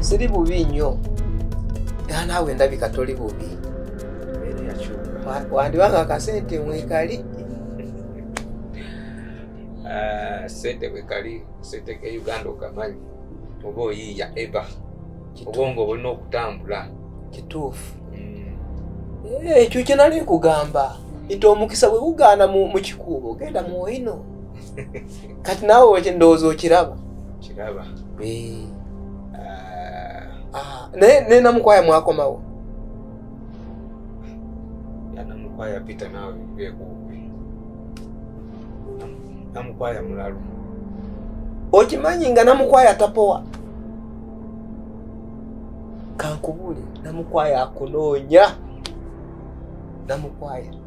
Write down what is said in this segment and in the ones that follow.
siri bubi nnyo era naawe ndabika toli bubi wandibanga akasente mwekali ah, sente mwekali sente ke uganda okamanyi oba oyiiya eba obwongo obulina okutambula kituufu mm. eh, ekyo kyenali nkugamba nti omukisa bwe gugaana mu kikuubo genda muwoino kati naawe wekye ndowooza okiraba kiraba eh. ah. Ah, naye naye namukwaya mwakomawo namukwaya pita naawe bekuubi namukwaya mulalu okimanyi nga namukwaya tapowa kankubule namukwaya akunoonya namukwaya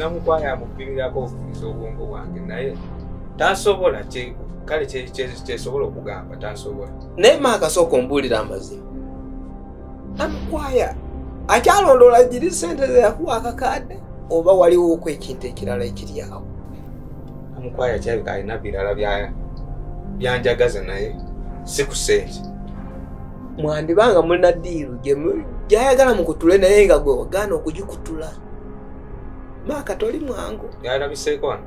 namukwaya amukubirako okufiza obwongo bwange naye tasobola kale kyesobola okugamba tasobola naye maakasooka ombuulira amazima amukwaya akyalondoola giri sente zeyakuwa akakaadde oba waliwo oku ekintu ekirala ekiri awo amukwaya kyabika alina birala byanjagaza naye si ku sente mwandibanga mulina diiru gyayagala mukutule naye nga gwe wagaana okugikutula maaka toli mwangu yalabiseeko wano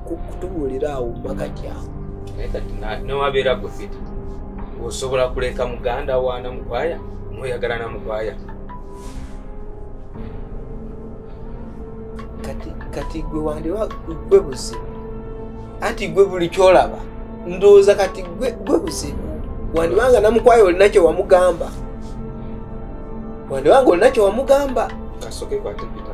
kutubuulira awo makati awo naye kati newabeera gwe fiti osobola kuleka muganda waana mukwaya noyagala na mukwaya kati kati gwe wandiwa gwe buzibu anti gwe buli kyolaba ndowooza kati gwe gwe buzibu wandibanga namukwaya olina kyewamugamba wandibanga olina kyewamugamba kasoke kwate pita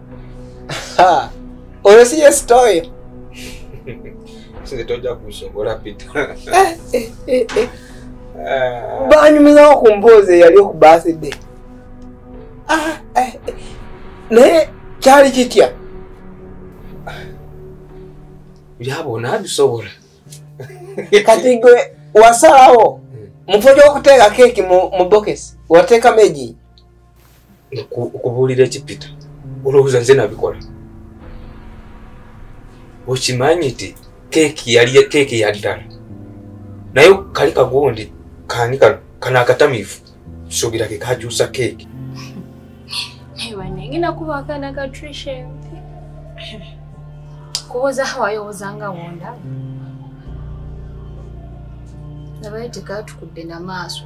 oyo si yesitoyo tojja kusobola pita eh, eh, eh, ah. banyumizawo ku mboozi eyali oku baside ah, naye kyali kitya byabona bisobola kati gwe wasalawo hmm. mufo gyokuteeka keeki mu bokesi wateekamu egi okubuulira ekipita olowooza nze nabikola okimanyi nti keeki yali keeki yaddala naye kali kagundi kani kano kano akatamivu suubira ke kakyusa keeki ngenda kuba akaana ka trishen kubuuza hawayowoza nga wonda nabaye tekatukudde na maaso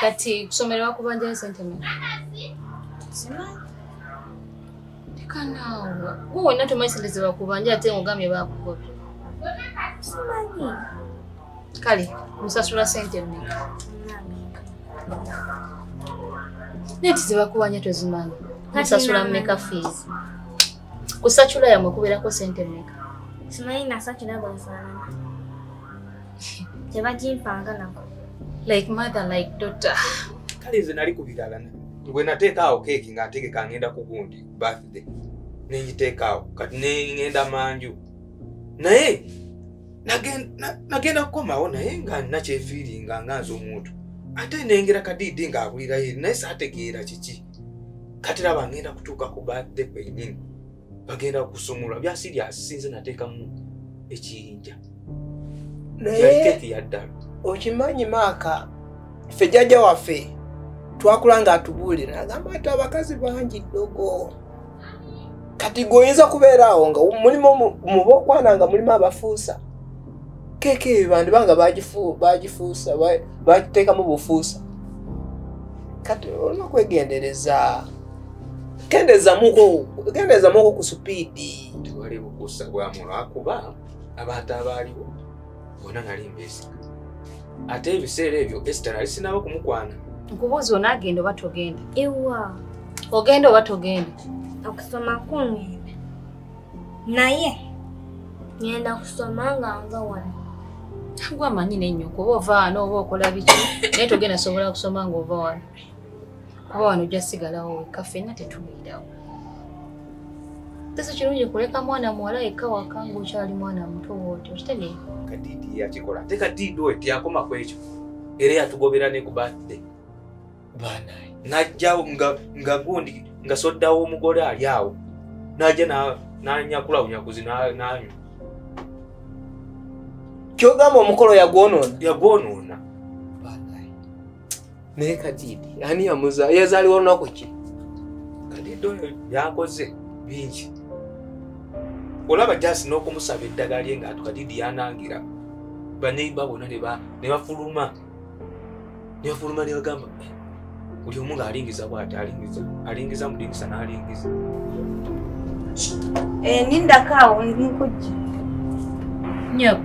kati kusomerwa kubanja esente meka simanyi leka naawe gwe wenna tomanyi sente zebakubanja ate ngogambye bakugobye simanyi kale musasula sente meka naye tizibakubanja tozimanyi musasula meka fees kusacula yamwe kubeerako sente meka simanyi nasacula bwefaanana tebagimpanga nako like mother like daughter kale nze nali ku birala bwe nateekaawo keeki nga ntegeka ngenda ku gundi birthday nengiteekaawo kati nengenda manju naye nagenda kukomawo naye nga nakyefiiringa nga nze omuntu ate nengera kadiidi ng'abulirayo naye saategeera kiki kati laba ngenda kutuuka ku birthday kwenyini bagenda kusumulwa byasiri asinze nateekamu ekiyinja nayekeeki yaddala okimanyi maaka ffe jjajja waffe twakula nga atubuulira agamba ati abakazi bangi ddogo kati gwe oyinza kubeera awo nga mulimu mubokwana nga mulimu abafuusa keeka eyo bandiba nga bagifuusa bagiteekamu bufuusa kati olina kwegendereza kendezamuko kendezamuko ku supiidi tewali bukusa bwamu lwakuba abantu abaaliwo bona nali mbesi ate ebiseera ebyo esita nali sinaba okumukwana nkubuuzi ona agenda oba togenda ewa ogenda oba togenda okusoma kungenda naye ngenda kusoma nga nva wano gwe amanyi nenyo kuba ovaano oba okola biki naye togenda sobola kusoma ngaova wano kuba wano ojja sigalawo wekka ffenna tetubeerawo tese kirungi kuleka mwana muwala yekka waka ngaokyali mwana muto wooti okitegeera kadiidi yakikola ate kadiidi oyo teyakoma ku ekyo era yatugobera ne ku batde banaye najjawo nga gundi nga soddawo omugole ali awo najja nanyakula bunyakuzi nanywa kyogamba omukolo yagwonoona yagwonoona naye kadiidi ani yamuza yazaliwa olunaku ki kadiidi oyo yakoze bingi olaba jasi n'okumusaba eddagala lye ngaatu kadiidi yanangira baneiba bona ne bafuluma ne bafuluma ne bagamba eh, buli omu ng'alingiza bwati alingiza alingiza mudingisa n'alingiza eh, nindakaawo nkujja nyabo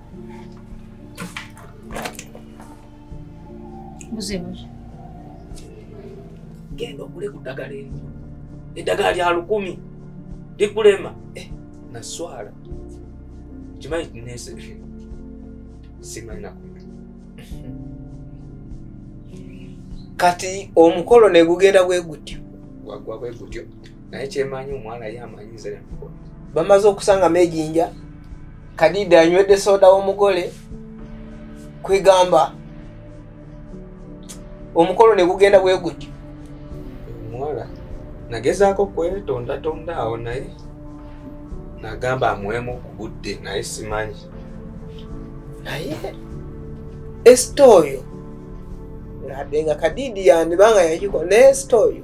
muzebuki genda ogule ku ddagala eri eddagala lya lukumi likulema eh, naswala kimanyi tinese simanyi naku kati omukolo negugenda bwegutyo wagwa bwegutyo naye kyemanyi omwana ye amanyi nze nemukola bamaze okusangamu ejinja kadida anywedde soda w'omugole kwegamba omukolo ne gugenda bwe gutyo omuwala nagezaako kwetondatonda awo naye nagamba amuwemu ku budde naye simanyi naye esita oyo nabbe nga kadidi yandibanga yagikola naye esita oyo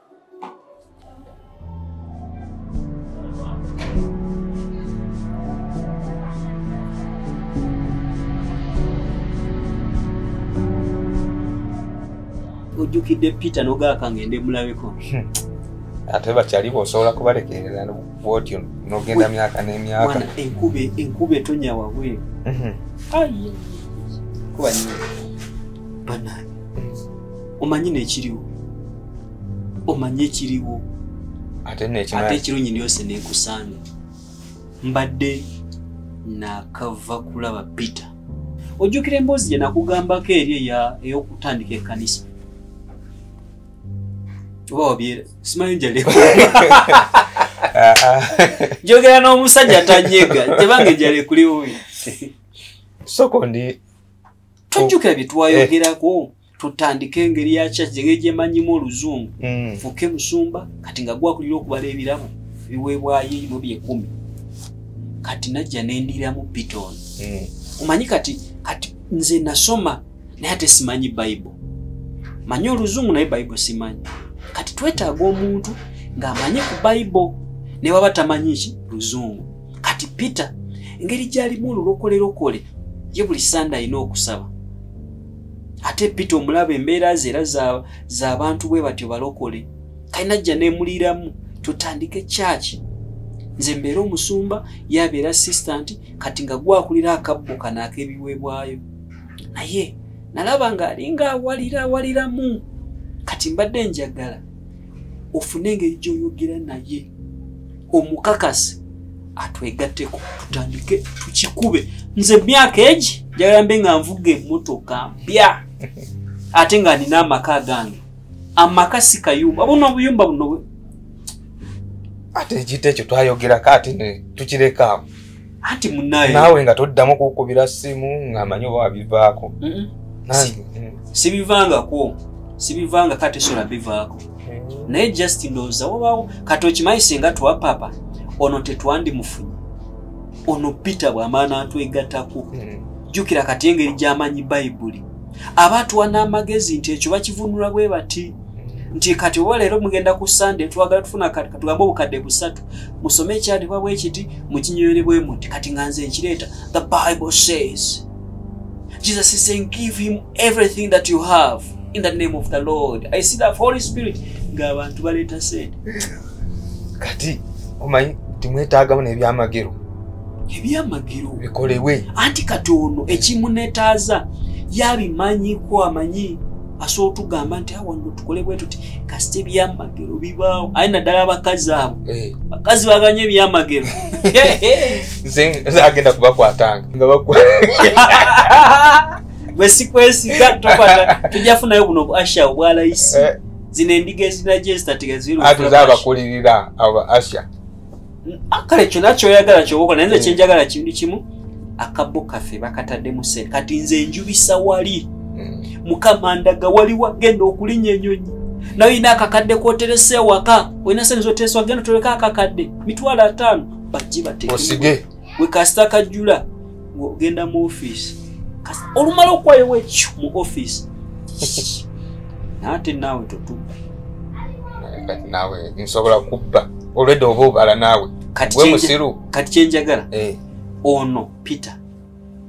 ojjukidde peter nogaaka ngende mulabeko hmm. ate bakyali bosobola kubalekerera bwotyo nogenda myaka nemyaka enkuba etonya wabweru hmm. kuba nyo banani omanyi nekiriwo omanye ekiriwo ate ekiro nyini yose nekusanga mbadde nakava kulaba peter ojjukira emboozi gye nakugambako eri eya ey'okutandika ekkanisa oba wabyera simanyi njaleko njogera n'omusajja tanyega tebange njale kuli wuyi sokondi tojjukira bye twayogerako eh. tutandike engeri ya kyaki engeri gyemanyimu oluzungu mm. fuke musumba kati nga gwakulira okubala ebirabo ebiweebwayo ebyo byekumi kati najja nendiramu piton mm. omanyi kati kati nze nasoma naye ate simanyi bible manyi oluzungu naye bible simanyi kati twetaaga omuntu ng'amanyi ku bible naye waba tamanyi ki luzungu kati peter engeri gyalimu olulokolerokole ye buli sande alina okusaba ate pita omulaba embeera ze era zabantu bwe batyo balokole kalina jja nemuliramu tutandike kyaki nze mbeera omusumba yabeera assistant kati nga gwakulira akabbo kano akebiweebwayo naye nalaba nga alinga awalira awaliramu kati mbadde njagala ofune engeri gyoyogera naye omukakasi atwegatteko tutandike tukikube nze myaka egi njagala mbe nga nvuga emmotoka mpya ate nga nina amaka agange amaka si kayumba bona obuyumba buno ate ekita ekyo twayogerako ate tukirekamu anti munaye naawe nga toddamu kukubira ssimu ng'amanyi oba wabivaako sibivangako sibivanga kati sola bivaako mm. naye just ndowooza wabaawo kati okimanyi singa twapapa ono tetwandimufunye ono peter bwamaana atwegatako mm. jjukira kati engeri gy'amanyi bayibuli aba atuwa n'amagezi nti ekyo bakivunula bwe bati mm. nti kati oba leero mugenda ku sande twagala tufuna kati katugambe obukadde busatu musome ekyandibwa bwe kiti mukinyonyole bwe muti kati nga nze nkireeta the bible says jesus is saying give him everything that you have in the name of the lord i see that holy spirit ng'abantu baleeta sente kati omanyi timwetaagamu n'ebyamagero ebyamagero bikolebwe anti kati ono ekimunetaaza yabimanyiko amanyi asobola otugamba nti awano ah, tukole bwe tuti kasita ebyamagero bibaawo aye naddala abakazi abo eh. bakazi baganye ebyamagero agenda kubakwatanga nga bwesikwesiga tokwata tujja funayo buno bu asha obwalayisi eh. zino endiga ezinajo ezitatigaziruabakulirira aba asha Ah, kale kyona kyoyagala kyobokola naye nze hmm. kyenjagala kintu kimu akabbo kaffe bakataddemu sente kati nze njubisa wali hmm. mukama ndaga wali wagenda okulinya enyonyi naye olina akakadde koteresa ewaka olina sente zoteresa wagenda otoleka akakadde mitwalo ataano bajji bateosige wekasita kajjula ng'ogenda mu ofiisi kasi olumala okuwayowo ekyo mu ofiisi naate naawe totubba kati naawe nsobola kubba olwedde oba obala naawe gwe musiru kati kyenjagala eh. ono peter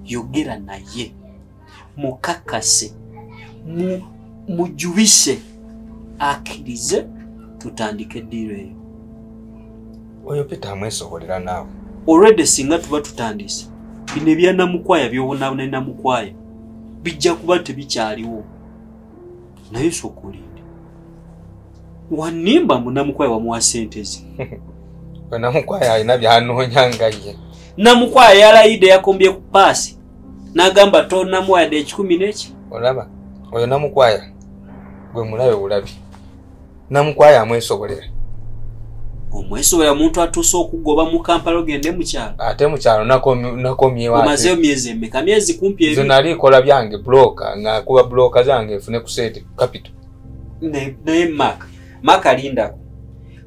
yogera naye mukakase mujubise akirize tutandike eddiiro eyo oyo peter amwesobolera naawe olwedde singa tuba tutandise bino ebyanamukwaya byobonabona enamukwaya bijja kuba tebikyaliwo naye soka olinde wanimba mbu namukwaya wamuwa sente ze namukwaya alina byanoonya ngaye namukwaya yalayidde yakombye ku paasi nagamba tonamuwayade ekikumi neki olaba oyo namukwaya gwe mulabe bulabi namukwaya amwesobolera omwesobola muntu atuuse okugoba mu kampala ogende mukyalo ate mukyalo nakomyeomazeyo myezi emeka myezi kumpi ezo nali kola byange bloka ngakuba bloka zange efune kusente capital naye mak maka lindako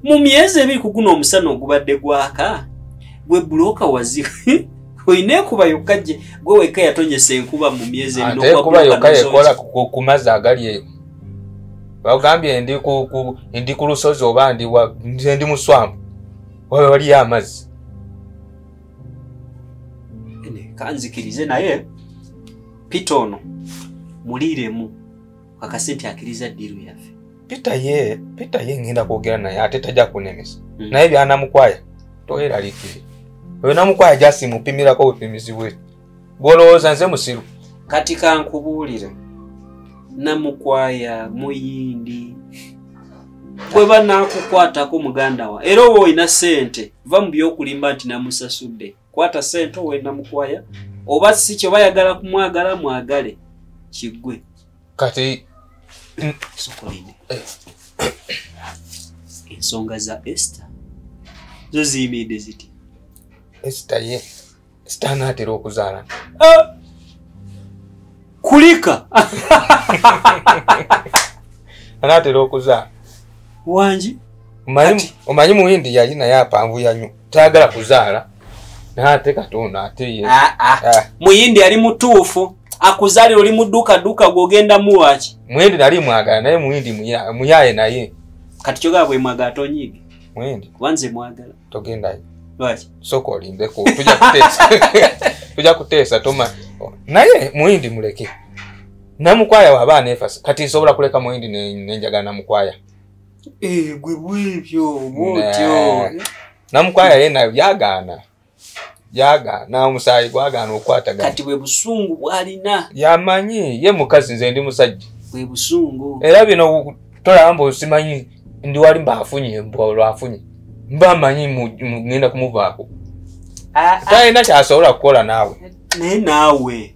mu myezi ebiri ku guno omusana ogubadde gwaka gwe bulooka wazi olina ekuba yokka gye gwe wekka yatonyesa enkuba mu myezi ebirikuba yokka yekola ku mazzi agali bagambye ndi ku lusozi oba ndi muswamu waba waliyo amazzi kanzikirize naye pita ono muliiremu kakase nti akiriza ddiiru yaffe peter ye peter ye ngenda kwogera naye ate tajja kunemesa mm. naye byanamukwaya toyeralikire oyo namukwaya jasi mupimirako bupimizi bwe gwolowooza nze musiru kati kankubuulire namukwaya muyindi bwe banakukwatako muganda wa era oba olina sente va mu byokulimba nti namusasudde kwata sente owenda mukwaya oba si kyobayagala kumwagala mwagale kiggwe kati sukulini eh. ensonga za ester zo ziyimiridde ziti ester ye ester anaatera okuzaala ah! kulika anaatera okuzaala wangi omanyi muhindi yali naye apanvuya nyo tayagala kuzaala nate katonda ate ye ah, ah. Ah. muyindi yali mutuufu akuzalira oli mudukaduka gwogenda muwaki muyindi nali mwagala naye muyindi muyaye naye kati kyogaa bwemwagala tonyiige muyindi kuba nze mwagala togendayo lwaki soka olindeko tuja kuteesa tuja kuteesa toma naye muyindi muleke namukwaya waba aneefasa kati nsobola kuleka muyindi nenjagala namukwaya Eh, gwe bwebyo bwotyo namukwaya yena byagaana byagaana omusaayi gwagaana okukwatagana kati bwe busungu bwalina yamanyi ye mukazi nze ndi musajja bwe busungu era bino tolaba mba osimanyi ndi wali mba afunye mba olwafunye mba manyi ngenda kumuvaako ah, ah. talina kyasobola kukola naawe naye naawe